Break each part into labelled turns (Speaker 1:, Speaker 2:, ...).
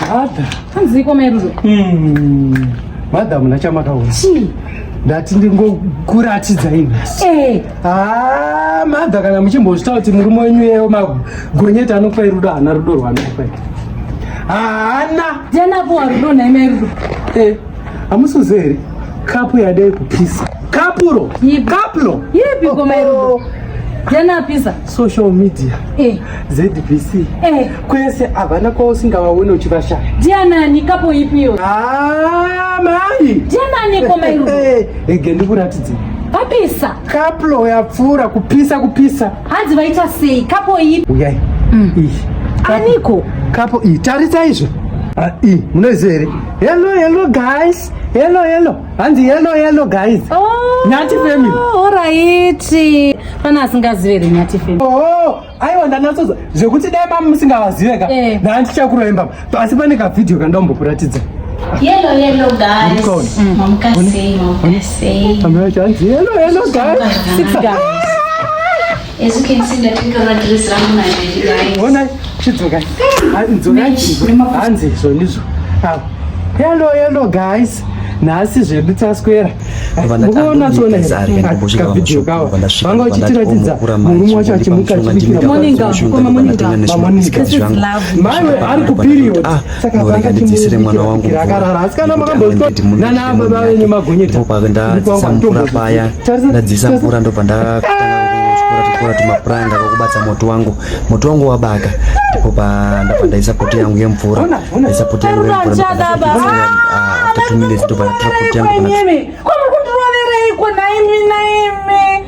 Speaker 1: Mother. Hanziko merudo.
Speaker 2: Mm.
Speaker 1: Mother muna chamakaona. Chii?
Speaker 2: Ndati
Speaker 1: ndingokuratidza inhasi. Eh. Ah, mother kana muchimbozvitaura kuti murume wenyu yeyo magonyeta anopa rudo hana rudo rwanopa. Haana. Jana po
Speaker 2: rudo na imerudo. Eh.
Speaker 1: Amusuze here? Kapu yadai kupisa. Kapuro. Yipi. Kaplo. Yipi oh, goma iro.
Speaker 2: Oh. Yanapisa. Social media.
Speaker 1: Eh. ZBC. Eh. Kwese havana kwausingavaone uchivashaya. Ndianani kapo
Speaker 2: ipi iyo. Ah,
Speaker 1: mai. Ndianani
Speaker 2: goma iro. Eh, ege eh, ndikuratidze.
Speaker 1: Kapisa.
Speaker 2: Kaplo
Speaker 1: yapfuura kupisa kupisa. Hanzi vaita
Speaker 2: sei? Kapo ipi. Uyai. Mm. Ishi. Aniko. Kapo iyi.
Speaker 1: Tarisa izvo. Ah, iyi. Munoiziva here? Hello, hello guys. Hello, hello. hanzi yellow yellow guys oh, nyati family oraiti
Speaker 2: pana asingazive here nyati family oh aiwa
Speaker 1: ndanatsoza zvekuti dai mama musingawazive ka eh. ndaa ndichakuroemba asi pane kavhidhiyo kandambokuratidza Yellow, yellow
Speaker 3: guys. Mm. Mamka say, mamka
Speaker 1: say. Mamka say, yellow, yellow guys. Six guys.
Speaker 3: As you can see,
Speaker 1: ndapfeka madress rangu maviri guys. Honai, chidzokai. Dzokai. Hanzi zvonizvo. Hello, hello guys. nhasi zvedu taswera mukuona tsona kavideo kawa vanga vachitiratidza murume wacho achimuka achibikira maiwe ari kupiriod norega ndidzisire mwana wangu mvurandipopakandadzisa mvura
Speaker 4: paya ndadzisa mvura ndobva ndakora tumapuranga kwakubatsa moto wangu moto wangu wabaka ndipo pandabva ndaisa poti yangu yemvura ndaisa poti yangu yemvura ndobva ndaisa poti yangu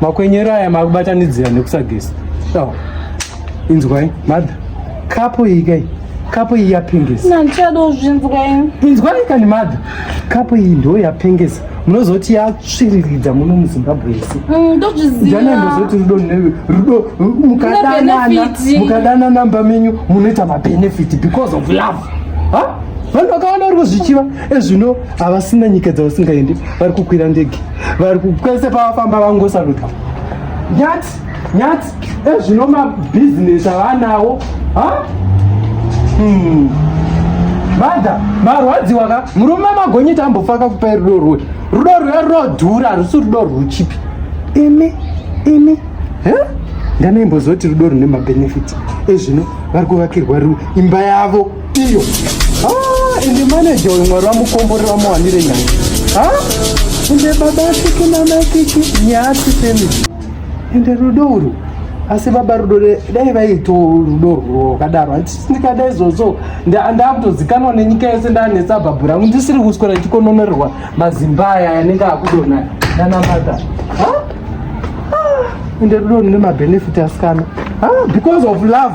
Speaker 1: makwenyero aya makubatanidzira nekusageza oh. inzwai madha kapo iyi kai kapo iyi yapengesa nandichadozvinzwainzwai
Speaker 2: kani
Speaker 1: madha kapo iyi ndo yapengesa munozoti yatsviriridza muno muzimbabwe isi mm, ndozviziana ndozoti rudo newe rudo mukadanana mukadana namba menyu munoita mabenefit because of love ha vanhu vakawanda vari kuzvichiva ezvino havasina nyika dzavasingaendi vari kukwira ndege vari kukwese pavafamba vangosaluta nyati nyati ezvino mabhizinesi avanawo ha hmm. mada marwadziwa ka murume magonyita ambofaka kupai rudo rwe rudo rwe runodhura harusi rudo rwuchipi imi imi he ndanoimbozoti rudo rune mabenefit ezvino vari kuvakirwa imba yavo iyo ah, ende maneja uyu mwari vamukombori vamuwanire nyaya ah, ende baba asiki namaikiki nyasi femi ende rudo uru asi baba rudo dai vaito rudo rwakadaro handisindikada izvozvo ndakutozikanwa nenyika yese ndanetsa bhabhu rangu ndisiri kuswera ndichikononerwa mazimba aya anenge akudona nanamata ende rudo rine mabhenefiti asikana because of love